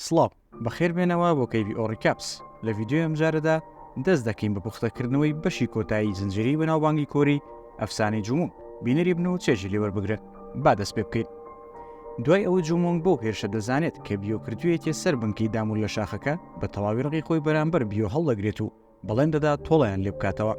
سڵاو، بەخێر بێنەوە بۆ کەیڤی ئۆڕیکاپس، لە ڤیدیۆی ئەمجارەدا دەست دەکەین بە پوختەکردنەوەی بەشی کۆتایی زنجیرەی بەناوبانگی کۆری ئەفسانەی جومونگ، بینەری بن و چێژی لێ وەربگرن، با دەست پێ بکەین. دوای ئەوەی جومونگ بەو هێرشە دەزانێت کە بیۆ کردوویەتیە سەر بنکەی دامون لە شاخەکە، بە تەواوی ڕقی خۆی بەرامبەر بیۆ هەڵدەگرێت و بەڵێن دەدات تۆڵەیان لێ بکاتەوە.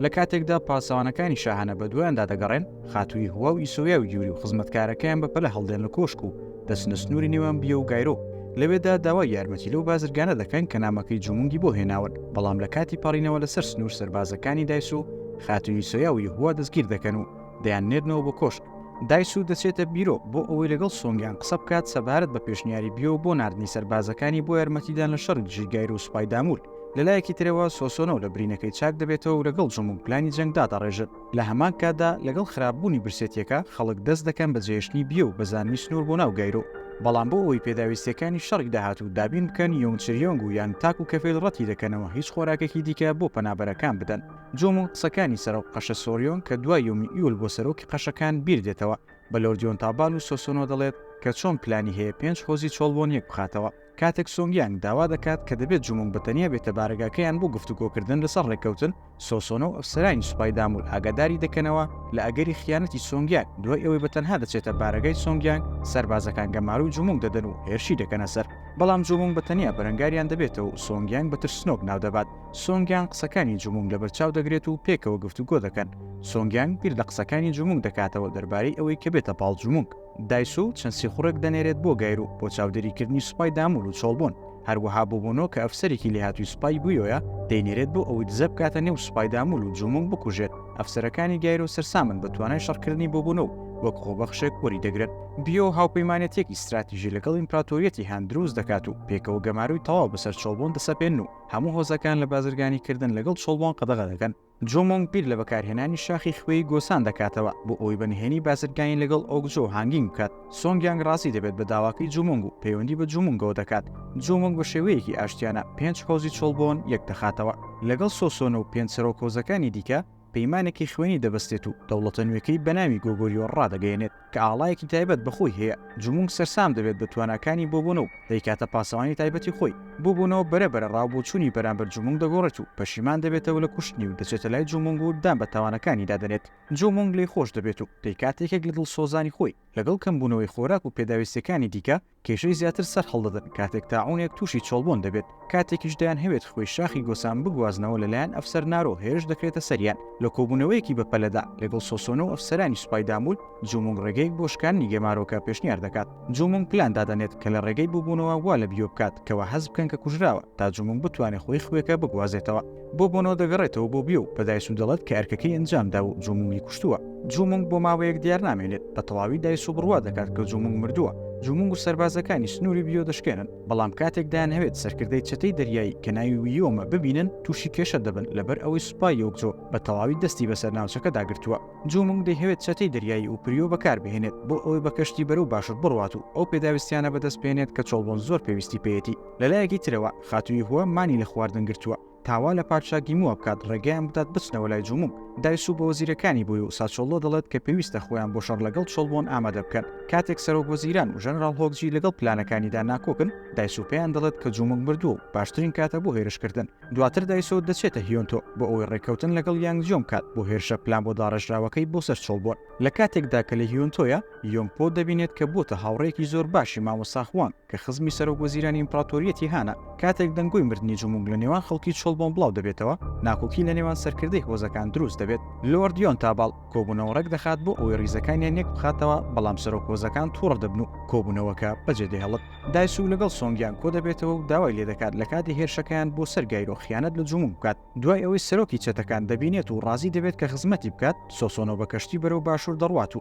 لە کاتێکدا پاسەوانەکانی شاهانە بە دوایاندا دەگەڕێن، خاتووی هوا و ئیسۆیا و یوری و خزمەتکارەکەیان بە پەلە هەڵدێن لە کۆشک و دەچنە سنووری نێوان بیە و گایرۆ. لەوێدا داوای یارمەتی لەو بازرگانە دەکەن کە نامەکەی جومونگی بۆ هێناون، بەڵام لە کاتی پەڕینەوە لەسەر سنوور سەربازەکانی دایس و خاتووی ئیسۆیا و یهووا دەستگیر دەکەن و دەیاننێرنەوە بۆ کۆشک. دایسو دەچێتە بیرۆ بۆ ئەوەی لەگەڵ سۆنگیان قسە بکات سەبارەت بە پێشنیاری بیۆ بۆ ناردنی سەربازەکانی بۆ یارمەتیدان لە شەڕی دژی گایرۆ و سوپای دامور. لە لایەکی ترەوە سۆسۆنۆ لە برینەکەی چاک دەبێتەوە و لەگەڵ جموک پلانی جەنگ دادەڕێژن. لە هەمان کاتدا لەگەڵ خراپبوونی برسێتییەکە، خەڵک دەست دەکەن بە جێهێشتنی بیۆ و بەزاندنی سنوور بۆ ناو گایرۆ. بەڵام بۆ ئەوەی پێداویستییەکانی شەڕی داهاتوو دابین بکەن، یۆنگ چریۆنگ و یانگ تاک و کەفێل ڕەتی دەکەنەوە هیچ خۆراکێکی دیکە بۆ پەنابەرەکان بدەن. جۆموون قسەکانی سەرۆک قەشە سۆریۆنگ کە دوای یۆمی ئیول بۆ سەرۆکی قەشەکان بیر دێتەوە، بە لۆرد یۆنتابال و سۆسۆنۆ دەڵێت کە چۆن پلانی هەیە پێنج هۆزی چۆڵ بۆن یەک بخاتەوە. کاتێک سۆنگ یانگ داوا دەکات کە دەبێت جومونگ بە تەنیا بێتە بارەگاکەیان بۆ گفتوگۆکردن لەسەر ڕێککەوتن، سۆسۆنە و ئەفسەرانی سوپای دامول ئاگاداری دەکەنەوە لە ئەگەری خیانەتی سۆنگ یانگ، دوای ئەوەی بە تەنها دەچێتە بارەگای سۆنگ یانگ، سەربازەکان گەمارۆی جومونگ دەدەن و هێرشی دەکەنە سەر، بەڵام جومونگ بە تەنیا بەرەنگاریان دەبێتەوە و سۆنگ یانگ بە ترسنۆک ناودەبات، سۆنگ یانگ قسەکانی جومونگ لەبەرچاو دەگرێت و پێکەوە گفتوگۆ دەکەن، سۆنگ یانگ بیر لە قسەکانی جومونگ دەکاتەوە دەربارەی ئەوەی کە بێتە پاڵ جومونگ. دایسو چەند سیخوڕێک دەنێرێت بۆ گایرو بۆ چاودێریکردنی سوپای دامول و چۆڵبۆن، هەروەها بوبونۆ کە ئەفسەرێکی لێهاتووی سوپای گویۆیە دەینێرێت بۆ ئەوەی دزە بکاتە نێو سوپای دامول و جومونگ بکوژێت، ئەفسەرەکانی گایرو سەرسامن بە توانای شەڕکردنی بوبونۆ و وەک خۆبەخشێک وەریدەگرن. بیۆ هاوپەیمانێتیەکی ستراتیژی لەگەڵ ئیمپراتۆریەتی هان دروست دەکات و پێکەوە گەمارۆی تەواو بەسەر چۆڵبۆن دەسەپێنن و هەموو هۆزەکان لە بازرگانیکردن لەگەڵ چۆڵبۆن قەدەغە دەکەن، جو مۆنگ بیر لە بەکارهێنانی شاخی خوێی گۆسان دەکاتەوە بۆ ئەوەی بە نهێنی بازرگانی لەگەڵ ئۆگ جۆ هانگینگ بکات. سۆنگ یانگ ڕازی دەبێت بە داواکەی جو مۆنگ و پەیوەندی بە جو مۆنگەوە دەکات. جو مۆنگ بە شێوەیەکی ئاشتیانە پێنج هۆزی چۆڵبۆن یەک دەخاتەوە. لەگەڵ سۆ سۆنە و پێنج سەرۆک هۆزەکانی دیکە پەیمانێکی خوێنی دەبەستێت و دەوڵەتە نوێکەی بەناوی گۆگۆریۆ ڕادەگەیەنێت. کە ئاڵایەکی تایبەت بە خۆی هەیە، جومونگ سەرسام دەبێت بە تواناکانی بۆبۆنۆ و دەیکاتە پاسەوانی تایبەتی خۆی، بۆبۆنۆ بەرە بەرە ڕاوبۆچوونی بەرامبەر جومونگ دەگۆڕێت و پەشیمان دەبێتەوە لە کوشتنی و دەچێتە لای جومونگ و دان بە تاوانەکانیدا دەنێت، جومونگ لێی خۆش دەبێت و دەیکاتە یەکێک لە دڵسۆزانی خۆی، لەگەڵ کەمبوونەوەی خۆراک و پێداویستیەکانی دیکە، کێشەی زیاتر سەرهەڵدەدەن کاتێک تاعونێک تووشی چۆڵبوون دەبێت، کاتێکیش دەیانهەوێت خوێی شاخی گۆسان بگوازنەوە لەلایەن ئەفسەر نارۆ هێرش دەکرێتە سەریان، لە کۆبوونەوەیەکی بەپەلەدا لەگەڵ سۆسۆنۆ و ئەفسەرانی سوپای دامول، جومونگ ڕێگەیەک بۆ شکاندنی گەمارۆکە پێشنیار دەکات، جومونگ پلان دادەنێت کە لە ڕێگەی بووبوونەوە وا لە بیۆ بکات کەوا هەست بکەن کە کوژراوە تا جومونگ بتوانێت خوێی خوێکە بگوازێتەوە. بۆ بۆنۆ دەگەڕێتەوە بۆ بیۆ و پەدایس و دەڵێت کە ئەرکەکەی ئەنجامدا و جومونگی کوشتووە. جومونگ بۆ ماوەیەک دیار نامێنێت، بە تەواوی دایسۆ بڕوا دەکات کە جومونگ مردووە. جومونگ و سەربازەکانی سنووری بیۆ دەشکێنن، بەڵام کاتێک دەیانهەوێت سەرکردەی چەتەی دەریایی کە ناوی ویۆمە ببینن، تووشی کێشە دەبن لەبەر ئەوەی سوپای یۆکجۆ بە تەواوی دەستی بەسەر ناوچەکەدا گرتووە. جومونگ دەیهەوێت چەتەی دەریایی ئوپریۆ بەکاربهێنێت بۆ ئەوەی بە کەشتی بەرەو باشوور بڕوات و ئەو پێداویستیانە بەدەست بهێنێت کە چۆڵبۆن زۆر پێویستی پێیەتی. لەلایەکی ترەوە خاتو یهوه مانی لە خواردن گرتووە تا وا لە پادشا گیموە بکات ڕێگەیان بدات بچنەوە لای جوموگ. دایسو بە وەزیرەکانی بۆی و ساچۆلۆ دەڵێت کە پێویستە خۆیان بۆ شەڕ لەگەڵ چۆلبۆن ئامادە بکەن. کاتێک سەرۆک وەزیران و ژەنراڵ هۆکجی لەگەڵ پلانەکانیدا ناکۆکن، دایسو پێیان دەڵێت کە جوموگ مردووە و باشترین کاتە بۆ هێرشکردن. دواتر دایسو دەچێتە هیۆنتۆ بۆ ئەوەی ڕێککەوتن لەگەڵ یانگ جیۆنگ بکات بۆ هێرشە پلان بۆ داڕێژراوەکەی بۆ سەر چۆلبۆن. لە کاتێکدا کە لە هیۆنتۆیە، یۆنگ پۆ دەبینێت کە بووەتە هاوڕێیەکی زۆر باشی مامۆستا خوانگ. کە خزمی سەرۆک وەزیرانی ئیمپراتۆریەتی هانە، کاتێک دەنگۆی مردنی جومونگ لە نێوان خەڵکی چۆلبۆن بڵاو دەبێتەوە، ناکۆکی لە نێوان سەرکردەی هۆزەکان دروست دەبێت. لۆرد یۆنتاباڵ کۆبوونەوە ڕێک دەخات بۆ ئەوەی ڕیزەکانیان یەک بخاتەوە، بەڵام سەرۆک هۆزەکان توڕە دەبن و کۆبوونەوەکە بەجێ دەهێڵت. دایسوو لەگەڵ سۆنگیانگ کۆ دەبێتەوە و داوای لێ دەکات لە کاتی هێرشەکەیان بۆ سەر گایرۆ خیانەت لە جومونگ بکات. دوای ئەوەی سەرۆکی چەتەکان دەبینێت و ڕازی دەبێت کە خزمەتی بکات، سۆسۆنۆ بە کەشتی بەرەو باشوور دەڕوات و،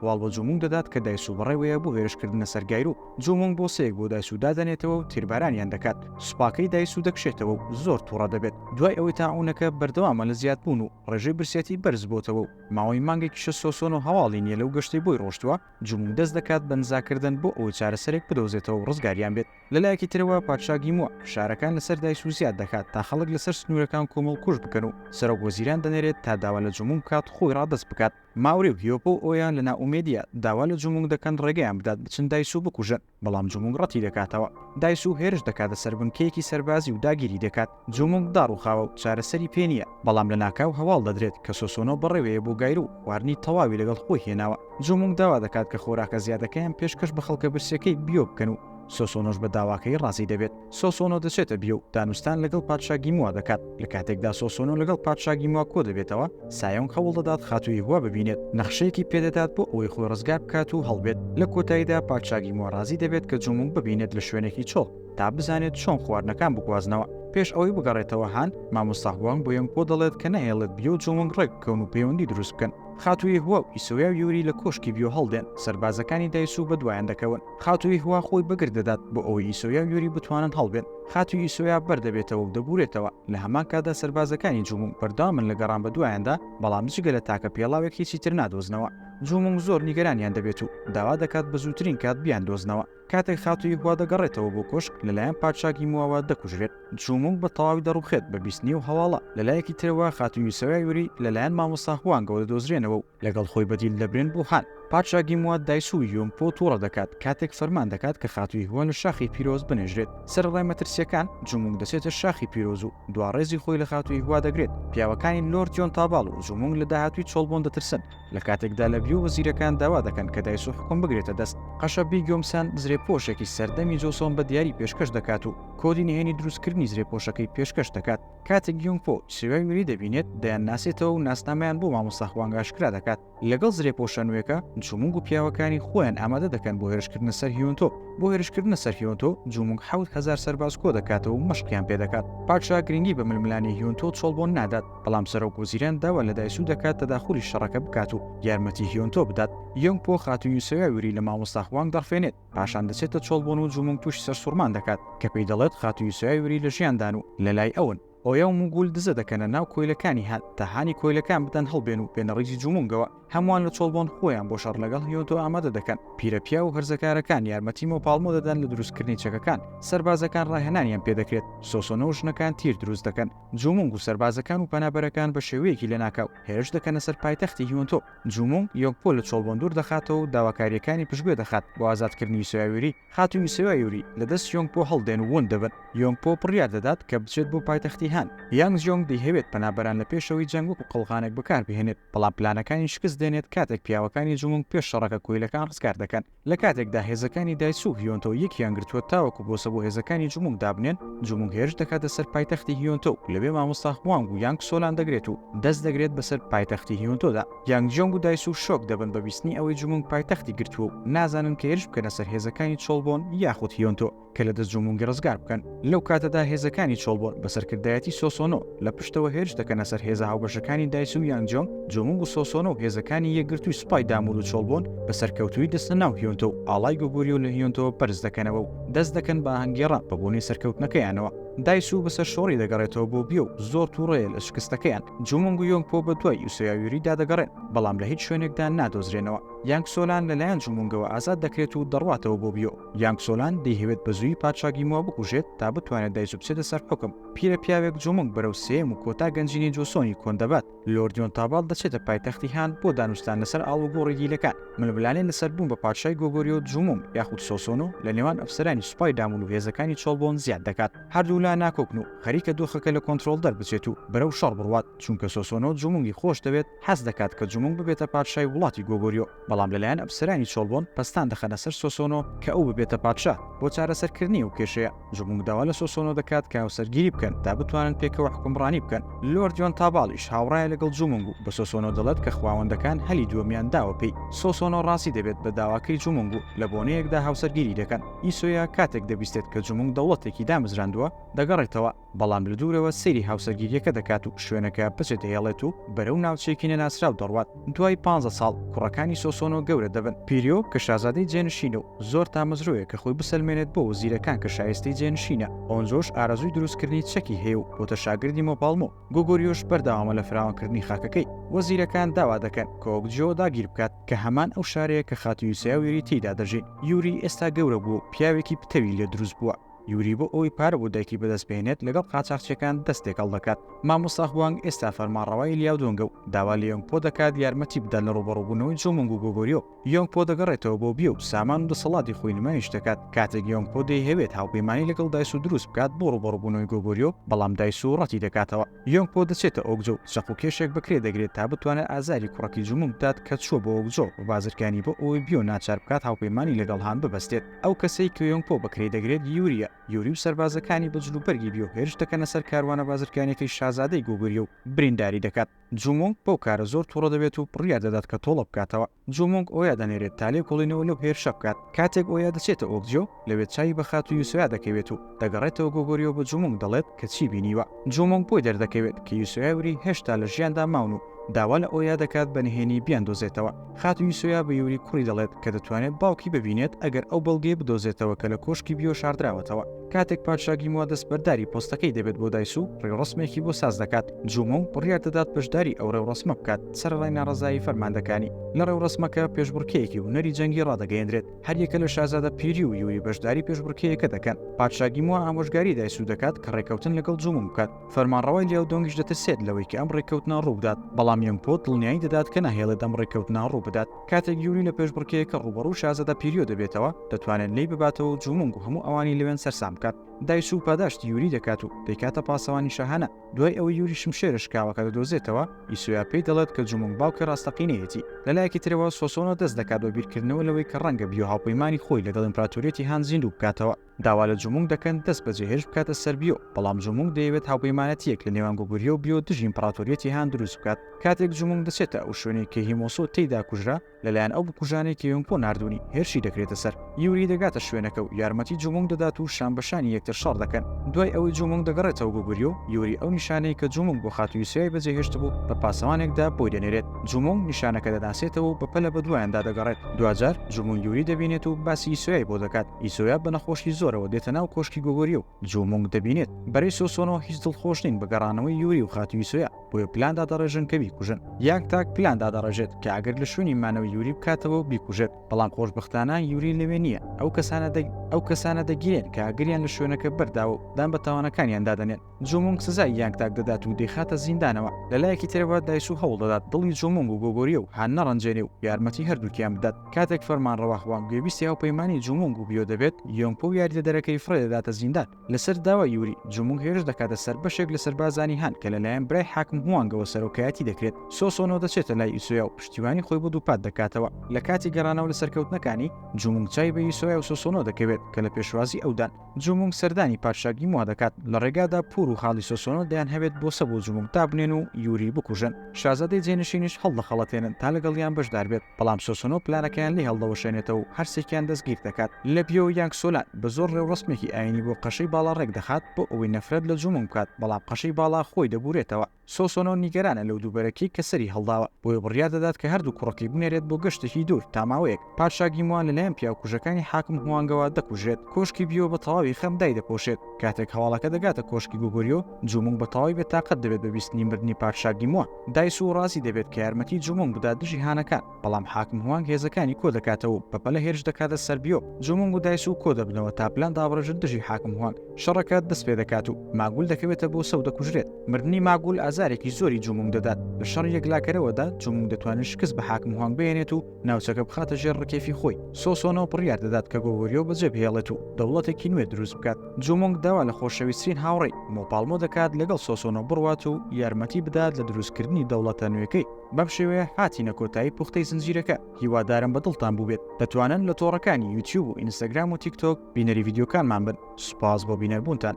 هەواڵ بۆ جومونگ دەدات کە دایسو بەڕێوەیە بۆ هێرشکردنە سەر گایرو، جومونگ بۆسەیەک بۆ دایسو دادەنێتەوە و تیربارانیان دەکات، سوپاکەی دایسو دەکشێتەوە و زۆر توڕە دەبێت، دوای ئەوەی تاعونەکە بەردەوامە لە زیادبوون و ڕێژەی برسیەتی بەرزبۆتەوە و ماوەی مانگێکیشە سۆسۆنۆ هەواڵی نیە لەو گەشتەی بۆی ڕۆشتووە، جومونگ دەست دەکات بە نزاکردن بۆ ئەوەی چارەسەرێک بدۆزێتەوە و ڕزگاریان بێت، لەلایەکی ترەوە پادشا گیموع فشارەکان لەسەر دایسو زیاد دەکات تا خەڵک لەسەر سنورەکان کۆمەڵکوژ بکەن و سەرۆک وەزیران دەنێرێت تا داوا لە جومونگ بکات خۆی ڕادەست بکات، ماوریویۆ بۆ ئۆیا لە نائومێدییە، داوا لە جونگونگ دەکەن ڕێگەیان بدات بچن دایسو بکوژن، بەڵام جونگونگ ڕەتیدەکاتەوە. دایسو هێرش دەکاتە سەر بنکەیەکی سەربازی و داگیری دەکات. جونگونگ داڕوخاوە و چارەسەری پێ نییە، بەڵام لەناکاو هەواڵ دەدرێت کە سۆسۆنۆ بەڕێوەیە بۆ گایرو و خواردنی تەواوی لەگەڵ خۆی هێناوە. جونگونگ داوا دەکات کە خۆراکە زیادەکەیان پێشکەش بە خەڵکە برسیەکەی بیۆ بکەن و سۆسۆنۆش بە داواکەی ڕازی دەبێت. سۆسۆنۆ دەچێتە بیرە و دانوستان لەگەڵ پادشا گیموا دەکات، لە کاتێکدا سۆسۆنۆ لەگەڵ پادشا گیموا کۆدەبێتەوە، سایۆنگ هەوڵ دەدات خاتوو یهوه ببینێت، نەخشەیەکی پێدەدات بۆ ئەوەی خۆی ڕزگار بکات و هەڵبێت، لە کۆتاییدا پادشا گیموا ڕازی دەبێت کە جۆنگوونگ ببینێت لە شوێنێکی چۆڵ تا بزانێت چۆن خواردنەکان بگوازنەوە. پێش ئەوەی بگەڕێتەوە هان، مامۆستا هوانگ بۆ یۆنگپۆ دەڵێت کە نەهێڵێت بیۆ و جۆنگوونگ ڕێک بکەون و پەیوەندی دروست بکەن. خاتوو یهوه و ئیسۆیا و یوری لە کۆشکی بیۆ هەڵدێن، سەربازەکانی دایسوو بەدوایان دەکەون. خاتووی هوا خۆی بەگەر دەدات بۆ ئەوەی ئیسۆیا و یۆری بتوانن هەڵبێن. خاتووی ئیسۆیا بەر دەبێتەوە و دەبورێتەوە، لە هەمان کاتدا سەربازەکانی جوومونگ بەردەوامن لە گەڕان بەدوایاندا، بەڵام جگە لە تاکە پێڵاوێک هیچی تر نادۆزنەوە. جوومونگ زۆر نیگەرانیان دەبێت و داوا دەکات بە زووترین کات بیاندۆزنەوە. کاتێک خاتووی هوا دەگەڕێتەوە بۆ کۆشک، لەلایەن پادشا گیمواوە دەکوژرێت. جوومونگ بە تەواوی دەڕووخێت بە بیستنی و هەواڵە. لەلایەکی ترەوە خاتووی ئیسۆیا و یۆری لەلایەن مامۆستا هوانگەوە دەدۆزرێنەوە و لەگەڵ خۆی بەدیل دەبرێن بۆ هان. پادشا گیموات دایسووی یۆنگ پۆ تووڕە دەکات کاتێک فەرمان دەکات کە خاتووی هوە لە شاخی پیرۆز بنێژرێت. سەرەڕای مەترسییەکان، جومونگ دەچێتە شاخی پیرۆز و دوا ڕێزی خۆی لە خاتووی هوە دەگرێت. پیاوەکانی لۆرد یۆن تاباڵ و جومونگ لە داهاتووی چۆڵبۆن دەترسن، لە کاتێکدا لە بلیو وەزیرەکان داوا دەکەن کە دایسوو حوکم بگرێتە دەست. قەشە بی گیۆمسان زرێپۆشێکی سەردەمی جۆسۆن بە دیاری پێشکەش دەکات و کۆدی نهێنی دروستکردنی زرێپۆشەکەی پێشکەش دەکات. کاتێک یونگ پۆ سوێنگ لی دەبینێت، دەیانناسێتەوە و ناسنامەیان بۆ مامۆستا هوانگ ئاشکرا دەکات. لەگەڵ زرێپۆشە نوێکە، جومونگ و پیاوەکانی خۆیان ئامادە دەکەن بۆ هێرشکردنە سەر هیۆنتۆ. بۆ هێرشکردنە سەر هیۆنتۆ، جومونگ حەوت هەزار سەرباز کۆدەکاتەوە و مەشقیان پێدەکات. پادشا گرنگی بە ململانێی هیۆنتۆ و چۆڵبۆن نادات، بەڵام سەرۆک وەزیران داوا لە دایسو دەکات تەداخولی شەڕەکە بکات و یارمەتی هیۆنتۆ بدات. یۆنگ پۆ خاتوو یوسویا ویری لە مامۆستا هوانگ دەڕفێنێت. پاشان دەچێتە چۆڵبوون و جومونگ تووشی سەرسوڕمان دەکات کە پێی دەڵێت خاتوو یوسویای وری لە ژیاندان و لە لای ئەون. ئۆیا و موگول دزە دەکەنە ناو کۆیلەکانی هان تا هانی کۆیلەکان بدەن هەڵبێن و بێنە ڕیزی جومونگەوە. هەمووان لە چۆڵبۆن خۆیان بۆ شەڕ لەگەڵ هیۆنتۆ ئامادە دەکەن. پیرە پیاو و هەرزەکارەکان یارمەتی مۆپاڵمۆ دەدەن لە دروستکردنی چەکەکان. سەربازەکان ڕاهێنانیان پێ دەکرێت. سۆسۆنۆ و ژنەکان تیر دروست دەکەن. جومونگ و سەربازەکان و پەنابەرەکان بە شێوەیەکی لەناکاو هێرش دەکەنە سەر پایتەختی هیۆنتۆ. جومونگ یۆنگ پۆ لە چۆڵبۆن دوور دەخاتەوە و داواکارییەکانی پشتگوێ دەخات بۆ ئازادکردنی یوسۆیا یوری. خاتوو یوسۆیا یوری لە دەست یۆنگ پۆ هەڵدێن و ون دەبن. یۆنگ پۆ بڕیار دەدات کە بچێت بۆ پایتەختی هان. یانگ جیۆنگ دەیهەوێت پەنابەران لە پێشەوەی جەنگ وەکو قەڵغانێک بەکاربهێنێت، بەڵام پلانەکانی شکست دێنێت کاتێک پیاوەکانی جومونگ پێش شەڕەکە کۆیلەکان ڕزگار دەکەن. لە کاتێکدا هێزەکانی دایچ و هیۆنتۆ یەکیان گرتووە تاوەکو بۆسە بۆ هێزەکانی جومونگ دابنێن، جومونگ هێرش دەکاتە سەر پایتەختی هیۆنتۆ و لەوێ مامۆستا هوانگ و یانگ سۆلان دەگرێت و دەست دەگرێت بەسەر پایتەختی هیۆنتۆدا. یانگ جیۆنگ و دایسو شۆک دەبن بە بیستنی ئەوەی جومونگ پایتەختی گرتووە و نازانن کە هێرش بکەنە سەر هێزەکانی چۆڵبۆن یاخود هیۆنتۆ. کە لە دەست جومونگی ڕزگار بکەن، لەو کاتەدا هێزەکانی چۆڵبۆر بە سەرکردایەتی سۆسۆنۆ لە پشتەوە هێرش دەکەنە سەر هێزە هاوبەشەکانی دایچ و یانجیۆنگ، جومونگ و سۆسۆنۆ و هێزەکانی یەکگرتووی سوپای دامور و چۆڵبۆن بە سەرکەوتوویی دەچنە ناو هیۆنتۆ و ئاڵای گۆگوریۆ لە هیۆنتۆوە بەرز دەکەنەوە و دەست دەکەن بە ئاهەنگگێڕان بە بۆنەی سەرکەوتنەکەیانەوە، دایچ بە سەرشۆڕی دەگەڕێتەوە بۆ بیۆ و زۆر توڕەیە لە شکستەکەیان، جومونگ و یۆنگپۆ بە دوای یوسۆیاویوریدا دەگەڕێن، بەڵام لە هیچ شوێنێکدا نادۆزرێنەوە. یانگ سۆلان لەلایەن جومونگەوە ئازاد دەکرێت و دەڕواتەوە بۆ بیۆ. یانگ سۆلان دەیهەوێت بەزوویی پادشا گیمۆ بکوژێت تا بتوانێت دایجو بچێتە سەر حوکم. پیرە پیاوێک جومونگ بەرەو سێیەم و کۆتا گەنجینەی جۆسۆنی کۆن دەبات. لۆرد یۆن تاباڵ دەچێتە پایتەختی هان بۆ دانوستان لەسەر ئاڵوگۆڕی دیلەکان. ململانێ لەسەر بوون بە پادشای گۆگۆریۆ و جومونگ یاخود سۆسۆنۆ لە نێوان ئەفسەرانی سوپای دامون و هێزەکانی چۆڵبۆن زیاد دەکات. هەردوو لا ناکۆکن و خەریکە دۆخەکە لە کۆنترۆڵ دەربچێت و بەرەو شەڕ بڕوات چونکە سۆسۆنۆ جومونگی خۆش دەوێت، حەز دەکات کە جومونگ ببێتە پادشای وڵاتی گۆگۆریۆ، بەڵام لەلایەن ئەپسەرانی چۆڵبۆن پەستان دەخەنە سەر سۆسۆنۆ کە ئەو ببێتە پادشا، بۆ چارەسەرکردنی ئەو کێشەیە، جومونگ داوا لە سۆسۆنۆ دەکات کە هاوسەرگیری بکەن تا بتوانن پێکەوە حوکمڕانی بکەن، لۆرد یۆن تاباڵیش هاوڕایە لەگەڵ جومونگ و بە سۆسۆنۆ دەڵێت کە خواوەندەکان هەلی دووەمیان داوە پێی، سۆسۆنۆ ڕازی دەبێت بە داواکەی جومونگ و لە بۆنەیەکدا هاوسەرگیری دەکەن، ئیسۆیا کاتێک دەبیستێت کە جومونگ دەوڵەتێکی دامەزراندووە، دەگەڕێتەوە، بەڵام لە دوورەوە سەیری هاوسەرگیرییەکە دەکات و شوێنەکە پچە دەهێڵێت و بەرەو ناوچەیەکی نەناسراو دەڕوات. دوای پانزە ساڵ، کوڕەکانی سۆسۆنۆ گەورە دەبن. پیریۆ کە شازادەی جێنشینە و زۆر تامەزرۆیە کە خۆی بسەلمێنێت بۆ وەزیرەکان کە شایستەی جێنشینە. ئۆنجۆش ئارەزووی دروستکردنی چەکی هەیە و بۆتە شاگردی مۆپاڵمۆ. گۆگۆریۆش بەردەوامە لە فراوانکردنی خاکەکەی. وەزیرەکان داوا دەکەن کۆکجیۆ داگیر بکات، کە هەمان ئەو شارەیە کە خاتوو یوسیا و یوری تێیدا دەژین. یوری ئێستا گەورە بووە و پیاوێکی پتەوی لێ دروست بووە. یوری بۆ ئەوەی پارە بۆ دایکی بەدەست بهێنێت لەگەڵ قاچاخچیەکان دەست تێکەڵ دەکات، مامۆستا هوانگ ئێستا فەرمانڕەوای لیاودۆنگە و داوا لە یۆنگ پۆ دەکات یارمەتی بدات لە ڕووبەڕووبوونەوەی جۆمۆنگ و گۆگۆریۆ، یۆنگ پۆ دەگەڕێتەوە بۆ بیۆ و سامان و دەسەڵاتی خۆی نمایش دەکات، کاتێک یۆنگ پۆ دەیهەوێت هاوپەیمانی لەگەڵ دایسو دروست بکات بۆ ڕووبەڕووبوونەوەی گۆگۆریۆ، بەڵام دایسو ڕەتی دەکاتەوە. یۆنگ پۆ دەچێتە ئۆگجۆ و چەق و کێشێک بە کرێ دەگرێت تا بتوانێت ئازاری کوڕەکی جومون بدات کە چووە بۆ ئۆگجۆ و بازرگانی بۆ ئەوەی بیۆ ناچار بکات هاوپەیمانی لەگەڵ هان ببەستێت. ئەو کەسەی کە یۆنگ پۆ بە کرێی دەگرێت یورییە. یوری و سەربازەکانی بە جلوبەرگی بیۆ هێرش دەکەنە سەر کاروانە بازرگانییەکەی شازادەی گۆگوریۆ و برینداری دەکات. جومونگ بەو کارە زۆر توڕە دەبێت و بڕیار دەدات کە تۆڵە بکاتەوە. جومونگ ئۆیا دەنێرێت تا لێکۆڵینەوە لەو هێرشە بکات. کاتێک ئۆیا دەچێتە ئۆکجیۆ، لەوێ چاوی بە خاتوو یوسۆیا دەکەوێت و دەگەڕێتەوە گۆگۆریۆ بە جومونگ دەڵێت کە چی بینیوە. جومونگ بۆی دەردەکەوێت کە یوسۆیا و ری هێشتا لە ژیاندا ماون و داوا لە ئۆیا دەکات بە نهێنی بیاندۆزێتەوە. خاتوو یوسۆیا بە یوری کوڕی دەڵێت کە دەتوانێت باوکی ببینێت ئەگەر ئەو بەڵگەیە بدۆزێتەوە کە لە کۆشکی بیۆ شاردراوەتەوە. کاتێک پادشا گیموا دەستبەرداری پۆستەکەی دەبێت بۆ دایسو ڕێوڕەسمێکی بۆ ساز دەکات جومە و بڕیار دەدات بەشداری ئەو ڕێوڕەسمە بکات سەرەڕای ناڕەزایی فەرماندەکانی لە ڕێوڕەسمەکە پێشبڕکێیەکی هونەری جەنگی ڕادەگەیەنرێت هەریەکە لە شازادە پیری و یوری بەشداری پێشبڕکێیەکە دەکەن پادشا گیموا ئامۆژگاری دایسو دەکات کە ڕێکەوتن لەگەڵ جومە بکات فەرمانڕەوای لیاو دۆنگیش دەترسێت لەوەی کە ئەم ڕێککەوتنە ڕووبدات بەڵام یۆنگپۆ دڵنیایی دەدات کە ناهێڵێت ئەم ڕێککەوتنە ڕووبدات. کاتێک یوری لە پێشبڕکێیەکە ڕووبەڕوو شازەدە پیریۆ دەبێتەوە، دەتوانێت لێی بباتەوە و جوومونگ و هەموو ئەوانی لەوێن سەرسام بکات. دایسوو پاداشتی یوری دەکات و دەیکاتە پاسەوانی شاهانە. دوای ئەوەی یوری شمشێرە شکاوەکە دەدۆزێتەوە، ئیسویا پێی دەڵێت کە جوومونگ باوکی ڕاستەقینەیەتی. لە لایەکی ترەوە، سۆسۆنۆ دەست دەکات بە بیرکردنەوە لەوەی کە ڕەنگە بیۆ هاوپەیمانی خۆی لەگەڵ ئیمپراتۆریەتی هان زیندوو بکاتەوە. داوا لە جومونگ دەکەن دەست بە جێهێشت بکاتە سەر بیۆ، بەڵام جومونگ دەیەوێت هاوپەیمانەتییەک لە نێوان گوگوریۆ و بیۆ دژی ئیمپڕاتۆریەتی هان دروست بکات. کاتێک جومونگ دەچێتە ئەو شوێنەی کە هیمۆسۆ تێیدا کوژرا، لەلایەن ئەو بکوژانەی کە یۆنگپۆ ناردوونی، هێرشی دەکرێتە سەر. یوری دەگاتە شوێنەکە و یارمەتی جومونگ دەدات و شان بە شانی یەکتر شەڕ دەکەن. دوای ئەوەی جومونگ دەگەڕێتەوە گوگوریۆ، یوری ئەو نیشانەی کە جومونگ بۆ خاتوو یوسیای بە جێهێشتبوو بە پاسەوانێکدا بۆی دەنێرێت. جومونگ نیشانەکە دەناسێتەوە و بە پەلە بە دوایاندا دەگەڕێت. دواجار جومونگ یوری دەبینێت و باسی یوسیای بۆ دەکات. ئیسۆیا بە نەخۆشی زۆرەوە دێتە ناو کۆشکی گۆگۆریۆ و جو مونگ دەبینێت. بەرەی سۆسۆنۆ هیچ دڵخۆش نین بە گەڕانەوەی یوری و خاتوو ئیسۆیا، بۆیە پلان دادەڕێژن کە بیکوژن. یانگ تاک پلان دادەڕێژێت کە ئاگر لە شوێنی مانەوەی یوری بکاتەوە و بیکوژێت، بەڵام خۆشبەختانە یوری لەوێ نییە. ئەو کەسانە دەگیرێن کە ئاگریان لە شوێنەکە بەرداوە و دان بە تاوانەکانیان دادەنێن. جومونگ سزای یانگ تاک دەدات و دەیخاتە زیندانەوە، لەلایەکی ترەوە دایسو هەوڵدەدات دڵی جومونگ و گۆگۆریۆ و هان نەڕەنجێنێ و یارمەتی هەردووکیان بدات، کاتێک فەرمانڕەوا هوانگ گوێبیستی هاوپەیمانی جومونگ و بیۆ دەبێت، یۆنگپۆ و یاریدەدەرەکەی فڕێدەداتە زیندان، لەسەر داوای یوری، جومونگ هێرش دەکاتە سەر بەشێک لە سەربازانی هان کە لەلایەن برای حاکم هوانگەوە سەرۆکایەتی دەکرێت، سۆسۆنۆ دەچێتە لای ئیسۆیا و پشتیوانی خۆی بۆ دووپات دەکاتەوە، لەکاتی گەڕانەوە لە سەرکەوتنەکانی، جومونگ چاوی بە ئیسۆیا و سۆسۆنۆ دەکەوێت کە لە پێشوازی ئەودان، جومونگ سەردانی پادشاگی موا دەکات، لە ڕێگادا پور و خاڵی سۆسۆنۆ دەیان هەوێت بۆسە بۆ جومونگ دابنێن و یوری بکوژن، شازادەی جێنشینیش هەڵدەخەڵەتێنن تا لەگەڵیان بەشدار بێت، بەڵام سۆسۆنۆ پلانەکەیان لێ هەڵدەوەشێنێتەوە و هەرسێکیان دەستگیر دەکات. لە بیۆ یانگ سۆلان بە زۆر ڕێوڕەسمێکی ئاینی بۆ قەشەی باڵا ڕێکدەخات بۆ ئەوەی نەفرەت لە جومونگ بکات، بەڵام قەشەی باڵا خۆی دەبورێتەوە. سۆسۆنۆ نیگەرانە لەو دووبەرەکیەی کە سەری هەڵداوە، بۆیە بڕیار دەدات کە هەردوو کوڕەکەی بنێرێت بۆ گەشتێکی دوور تا ماوەیەک. پادشا گیموان لەلایەن پیاوکوژەکانی حاکم هوانگەوە دەکوژرێت. کۆشکی بیۆ بە تەواوی خەم دایدەپۆشێت. کاتێک هەواڵەکە دەگاتە کۆشکی گۆگوریۆ، جومونگ بە تەواوی بێتاقەت دەبێت بە بیستنی مردنی پادشا گیموان. دایسوو ڕازی دەبێت کە یارمەتی جومونگ بدات دژی هانەکان. بەڵام حاکم هوانگ هێزەکانی کۆ دەکاتەوە و بەپەلە هێرش دەکاتە سەر بیۆ جۆمۆنگ و دایسوو کۆ دەبنەوە تا پلان دابڕێژن دژی حاکم هوانگ شەڕەکە دەست پێ دەکات و ماگول دەکەوێتە بۆ سەو دەکوژرێت مردنی ماگول ئازارێکی زۆری جۆمۆنگ دەدات لە شەڕی یەکلاکەرەوەدا جۆمۆنگ دەتوانێت شکست بە حاکم هوانگ بهێنێت و ناوچەکە بخاتە ژێر ڕکێفی خۆی سۆسۆنۆ بڕیار دەدات کە گۆگۆریۆ بەجێ بهێڵێت و دەوڵەتێکی نوێ دروست بکات جۆمۆنگ داوا لە خۆشەویسترین هاوڕێی مۆپاڵمۆ دەکات لەگەڵ سۆسۆنۆ بڕوات و یارمەتی بدات لە دروستکردنی دەوڵەتە نوێکەی. بەم شێوەیە هاتینە کۆتایی پوختەی زنجیرەکە هیوادارم بە دڵتان بووبێت دەتوانن لە تۆڕەکانی یوتیوب و ئینستاگرام و تیکتۆک بینەری یددیوکانمان بن سوپاس بۆ بینەربوونتان.